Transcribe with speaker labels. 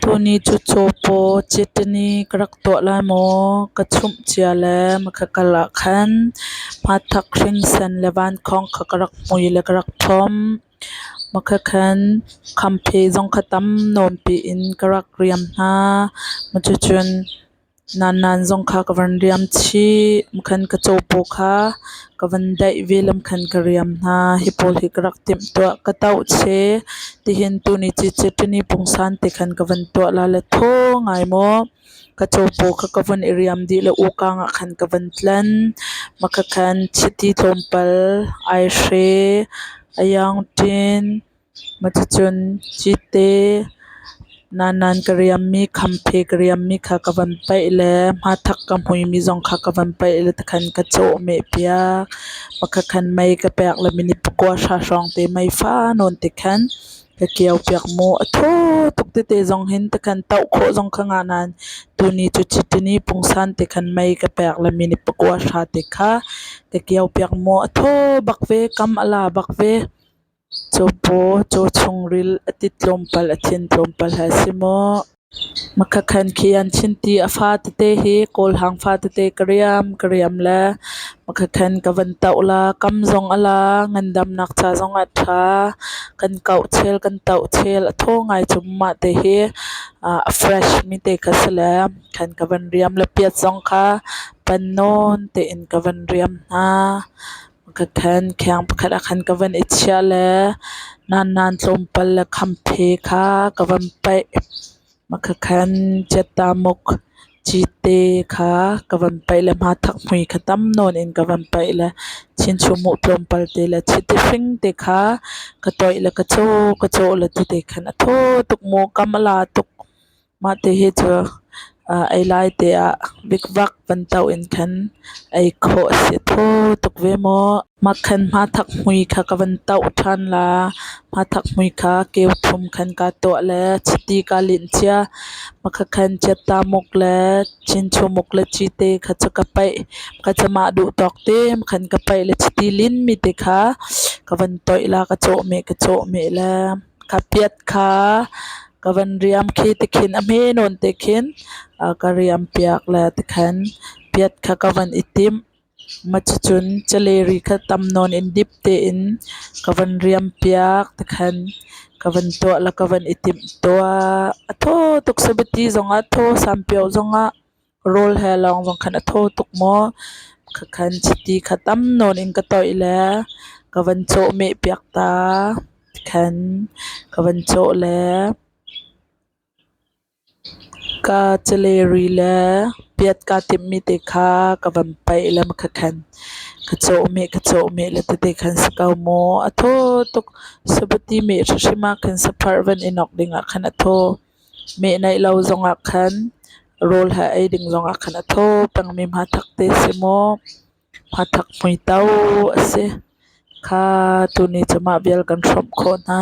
Speaker 1: Tuni cu caw paw citin i ka rak tuah lai maw? Ka chumh cia le maka kal ah khan hmathak hringsen le vankhawng kha ka rak hmui le ka rak ṭhawm. Maka khan khampheh zong kha tam nuampi in ka rak riam hna. Cuticun Nannan zong kha ka van riam chih. Lamkhan ka capo kha ka van daih ve. Lamkhan ka riam hna. Hi pawl hi ka rak timh tuah. Ka tauh che. Tihin tuni cici ṭini pungsan te khan ka van tuah lala thaw ngai maw. Ka capo kha ka van i riam dih le ukang ah khan ka van tlan. Makha khan chiti tlawmpal, aihre, ayangṭin, Cuticun cite nanan ka riammi, khampe ka riammi kha ka van paih le hmathak ka hmuimi zong kha ka van paih le tikhan ka cawhmeh piak. Pakhat khan mei ka pek le minit pakua hra hrawngte mei fanawn tikhan ka kio piak mu. A thaw tuk tete zong hin tikhan toh khawh zong ka ngah nain tuni cu cite ni pungsan tikhan mei ka pek le minit pakua hra te kha ka kio piak mu. A thaw bak ve, kam a la bak ve. Cupaw, cu chungril a ti tlawmpal a thin tlawmpal he si maw? Hmakha khan khi an chin ti a fa tete hi kawlhang fa tete ka riam ka riam le hmakha khan ka van toh la kam zong a la ngandamnak ca zong ah ṭha kan kauh chel kan toh chel a thaw ngai cu mah te hi a fresh mi te kha si le khan ka van riam le piat zong kha pan nawn tein ka van riam hna. ka then kheng pakhat ah khan ka van i chiah le nannan tlawmpal le khamphe kha ka van paih makhakhan ciattamuk cite kha ka van paih le hmathak hmui kha tam nawn in ka van paih le chinchumuh tlawmpal te le chiti hring te kha ka toih le ka caw ka caw le tete khan a thaw tuk maw kam a la tuk. Mah ti hi cu ei lai te ah vikvak bantuk in khan ei khawh a si kho tuk ve maw? Mah khan hmathak hmui kha ka van toh ṭhan la. Hmathak hmui kha keu thum khan kaa tuah le chiti kaa linh cia. Maka khan ciatta muk le chinchu muk le cite kha cu ka paih. Maka cu mah duh tawk te mkhan ka paih le chiti linmi te kha ka van toih la, ka cawhmeh, ka cawhmeh le. Ka piat kha ka van riam khi tikhin a hme nawn tikhin a ka riam piak le tikhan piat kha ka van i timh. Macicun caleri kha tam nawn in dip tein ka van riam piak tikhan ka van tuah le ka van i timh tuah. A thaw tuk sabiti zongah, a thaw sampio zongah. Rawl he lawng vang khan a thaw tuk maw? Ka khan chiti kha tam nawn in ka toih le ka van cawhmeh piak ta. Tikhan ka van cawh le ka caleri le piat kaa timmi te kha ka van paih le ka khan ka cawhmeh ka cawhmeh le tete khan si ko mu. A thaw tuk. Sabuti meh hrihrim ah khan sapharh van i nawk dingah khan a thaw. Mehnaih lo zongah khan rawl hlah ei ding zongah khan a thaw pengmi hmathak te si maw, hmathak hmuitau a si kha tuni cu mah vial kan hrawmh khawh hna.